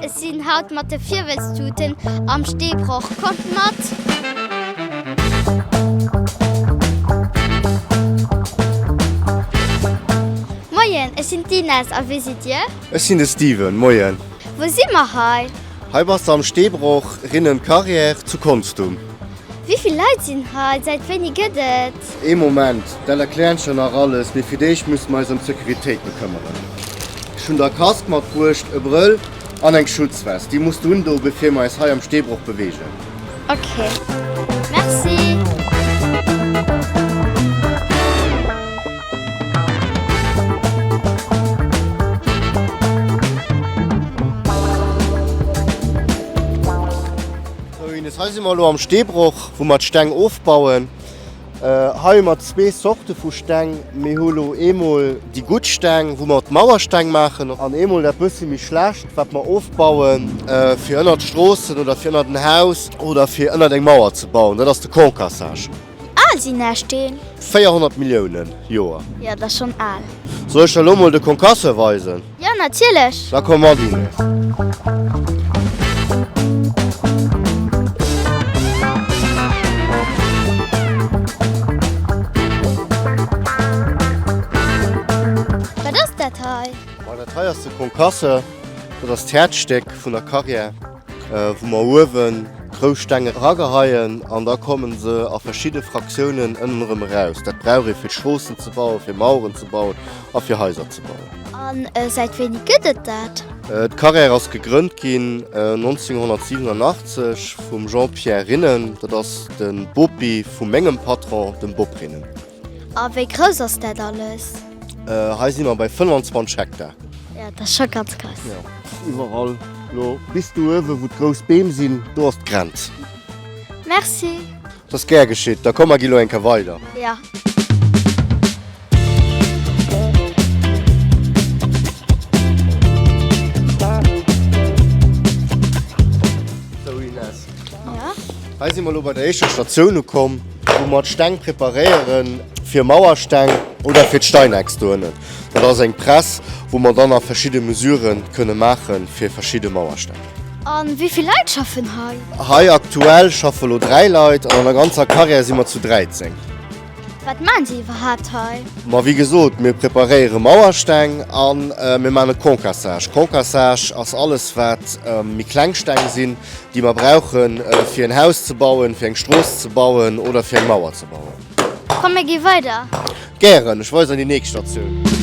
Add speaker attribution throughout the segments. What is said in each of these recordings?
Speaker 1: Ech sinn haut mat de Virwëlztuten am Steebroch. Kommt mat! Moien, ech sinn d'Ines. A wie sidd Dir? Ech sinn de Steven. Moien! Wou si mer hei? Hei bass de am Steebroch, rinnen d'Carrière, zu Konstum. Wivill Leit sinn hei? Säit wéini gëtt et? Ee Moment, dat erkläert scho nach alles, mee fir d'éischt musse mer eis ëm d'Securitéit bekëmmeren. Ech hunn der Kask matbruecht, e Brëll an eng Schutzvest. Déi muss de undoe bevir mer eis hei am Steebroch beweegen. Ok, merci. Sou Ines, hei si mer elo am Steebroch wou mer d'Steng ofbauen. Hei hu mer zwee Zorte vu Steng. Mir hu lo eemol déi gutt Steng wou mer d'Mauersteng maachen an eemol dat bëssi méi schlecht wat mer ofbaue fir ënnert d'Stroossen oder fir ënnert en Haus oder fir ënnert eng Mauer ze bauen. Dat ass de Concassage. Wéi al sinn är Steen? 400 Milliounen Joer. Jo, dat ass schonn al. Soll ech der elo mol de Concasseur weisen? Jo, natierlech! Da komm mat. Wat ass dat hei? Ma dat hei ass de Concasseur. Dat ass d'Häerzstéck vun der Carrière. wou mer uewen rou Steng erageheien an da kommen se a verschidde Fraktiounen ënnen erëm eraus. Dat brauch ee fir Stroossen ze bauen, fir Maueren ze bauen a fir Haiser ze bauen. An säit wéini gëtt et dat? D'Carrère ass gegrënnt ginn 1987 vum Jean-Pierre Rinnen, dat ass de Bopi vu mengem Patron, dem Bob Rinnen. A wéi grouss ass dat alles? Hei si mer bei 25 Hektar. Jo, dat ass scho ganz grouss. Jo, iwwerall do bis do uewen, wou d'grouss Beem sinn, do ass d'Grenz. Merci. Dat ass gär geschitt. Da komm, mer ginn elo eng Kéier weider. Jo. Sou, Ines, Hei si mer elo bei der éischter Statioun ukomm, wou mer d'Steng preparéiere fir Mauersteng oder fir d'Steineck dohennen. Dat ass eng Press, wou mer dann nach verschidde Mesurë kënne maache fir verschidde Mauersteng. A wéi vill Leit schaffen hei? Hei aktuell schaffe elo dräi Leit an an der ganzer Carrière si mer zu 13. Wat maan se iwwerhaapt hei? Ma wéi gesot, mir preparéiere Mauersteng a mir maan e Concassage. Concassage ass alles wat méi kleng Steng sinn, déi mer brauche fir en Haus ze bauen, fir eng Strooss ze bauen oder fir eng Mauer ze bauen. Komm mir gi weider. Gären, ech weisen an déi nächst Statioun.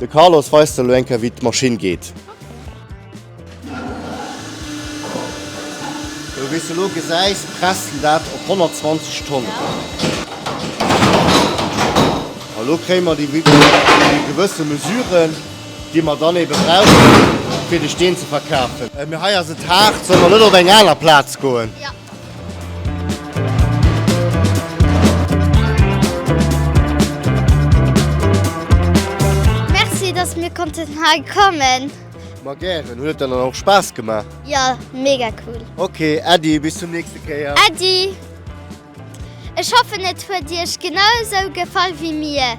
Speaker 1: De Carlos weist elo eng Kéier wéi d'Maschinn geet. Sou wéi s elo gesäis presst en dat op 120 Tonnen. A lo kréie mer déi gewësse Mesuren, déi mer dann ebe brauchen, fir de Steen ze verkafen. Mee hei ass et haart. Solle mer net op eng aner Plaz goen? Merci dass mir konnten hei kommen. Ma gären, huet et dann och Spaass gemaach? Jo, mega cool. Ok, Äddi, bis zum nächste Kéier. Äddi! Ech hoffen et huet Iech genau esou gefall wéi mir.